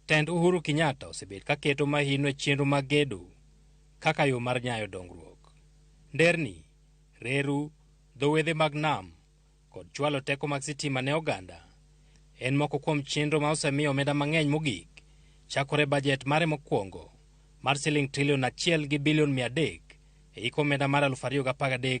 Tend Uhuru Kenyatta osebet ka keto mahino e chenro mag gedo kaka yo mar nyayo dongruok. Nderni, reru, dho wedhe mag nam, kod chwalo teko mag sitima ne oganda en moko kuom chenro ma osemiyo omenda mang'eny mogik chakore e bajet mare mokwongo mar siling trilion achiel gi bilion mia adek e hik omenda mar 2013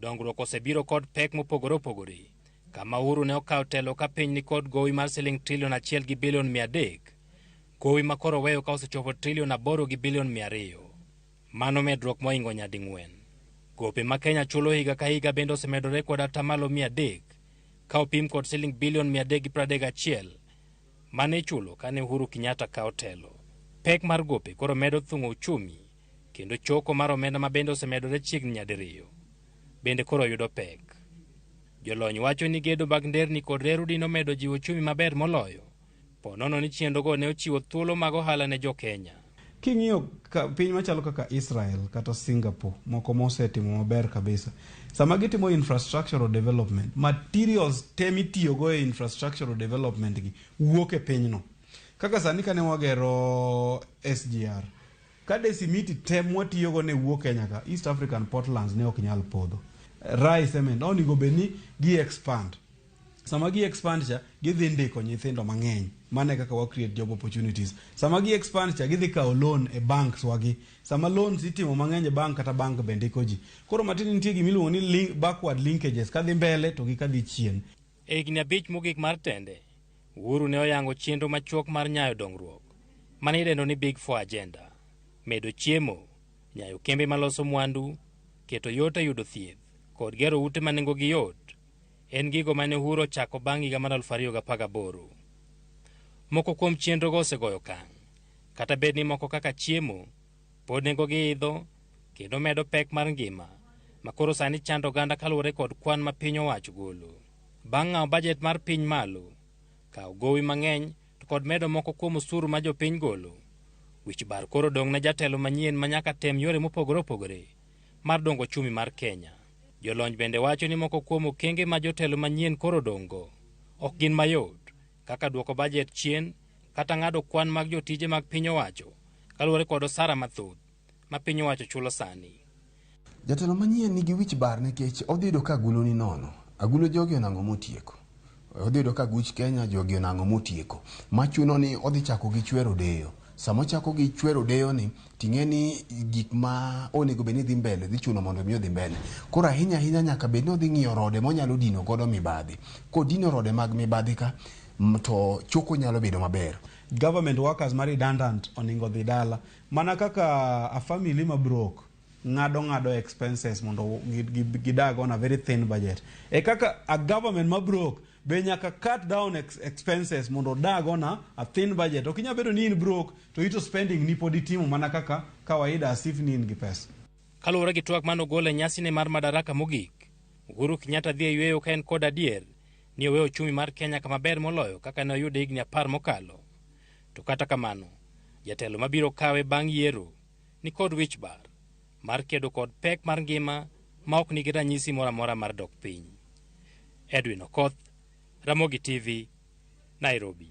Dongruok osebiro kod pek mopogore opogore. Kama Uhuru ne okawo telo ka piny nikod gowi mar siling trilion achiel gi bilion mia adek, gowi ma koro oweyo ka osechopo trilion aboro gi bilion mia ariyo. Mano medruok moingo nyading'wen. Gope ma Kenya chulo higa ka higa bende osemedore kod atamalo mia adek ka opim kod siling bilion mia adek gi piero adek gachiel mane ichulo kane Uhuru Kenyatta kawo telo. Pek mar gope koro medo thung'o uchumi kendo choko mar omenda ma bende osemedore chiegni nyadiriyo, bende koro yudo pek. Jolony wacho ni gedo mag nderni kod reru dine omedo jiwo ochumi maber moloyo, po nono ni chenrogo ne ochiwo thuolo mag ohala ne jo Kenya. King'iyo piny machalo kaka Israel kata Singapore moko mosetimo maber kabisa, sama gitimo infrastructural development, materials te mitiyogo e infrastructural development gi wuok e pinyno. Kaka sani kane wagero SGR, Kade simiti te mwatiyogo ne wuo Kenya ka, East African Portlands ne ok nyal podho. Rai cement oningo bed ni gi expand. Sama gi expand cha, gidhi ndiko nyithindo mang'eny. Mane kaka wa create job opportunities. Sama gi expand cha, gidhi kawo loan e banks wagi. Sama loans itimo mang'eny e bank kata bank be ndiko ji. Koro matiende nitie gimiluongo ni link, backward linkages kadhi mbele to gi kadhi chien. E higni abich mogik mar tende, Uhuru ne oyango chenro machuok mar nyayo dongruok ma ne idendo ni Big Four Agenda, medo chiemo, nyayo kembe maloso mwandu, keto yot e yudo thieth, kod gero ute ma nengogi yot, en gigo ma ne Uhuru ochako bang' higa mar 2018. Moko kuom chenrogo osegoyo okang', kata bed ni moko kaka chiemo, Pod nengogi idho kendo medo pek mar ngima ma koro sani chando oganda kaluwore kod kwan ma piny owacho golo. Bang' ng'awo bajet mar piny malo, kawo gowi mang'eny to kod medo moko kuom osuru ma jopiny golo, wich bar koro odong' ne jatelo manyien ma nyaka tem yore mopogore opogore mar dongo ochumi mar Kenya. Jolony bende wacho ni moko kuom okenge ma jotelo manyien koro odong'go ok gin mayot kaka duoko bajet chien kata ng'ado kwan mag jotije mag piny owacho kaluwore kod osara mathoth ma piny owacho chulo sani. Jatelo manyien nigi wich bar nikech odhi yudo ka agulu ni nono. Agulu jogi onang'o motieko. Odhi yudo ka aguch Kenya jogi onang'o motieko. Machuno ni odhi chako gi chwero deyo. Sama ochako gi chwero odeyoni, ting'e ni gik ma onego bed ni dhi mbele dhi chuno mondo mi odhi mbele. Koro ahinya ahinya nyaka bed ni odhi ng'iyo rode monyalo dino godo mibadhi. Kodino rode mag mibadhi ka m- to choko nyalo bedo maber. government workers ma redundant oningo dhi dala mana kaka a family ma brok ng'ado ng'ado expenses mondo gi- gi- gidag on a very thin budget e kaka a government ma brok be nyaka cut down ex expenses mondo odag on a, a thin budget ok inya bedo ni in broke to ito spending ni pod itimo mana kaka kawaida as if ni in gi pesa Kaluwore gi twak mane ogol e nyasine mar Madaraka mogik, Uhuru Kenyatta dhi e yueyo ka en kod adier ni oweyo ochumi mar Kenya kama ber moloyo kaka ne oyude higni apar mokalo. To kata kamano, jatelo mabiro kawe bang' yiero ni kod wich bar mar kedo kod pek mar ngima ma ok nigi ranyisi moro amora mar dok piny. Edwin Okoth, Ramogi TV, Nairobi.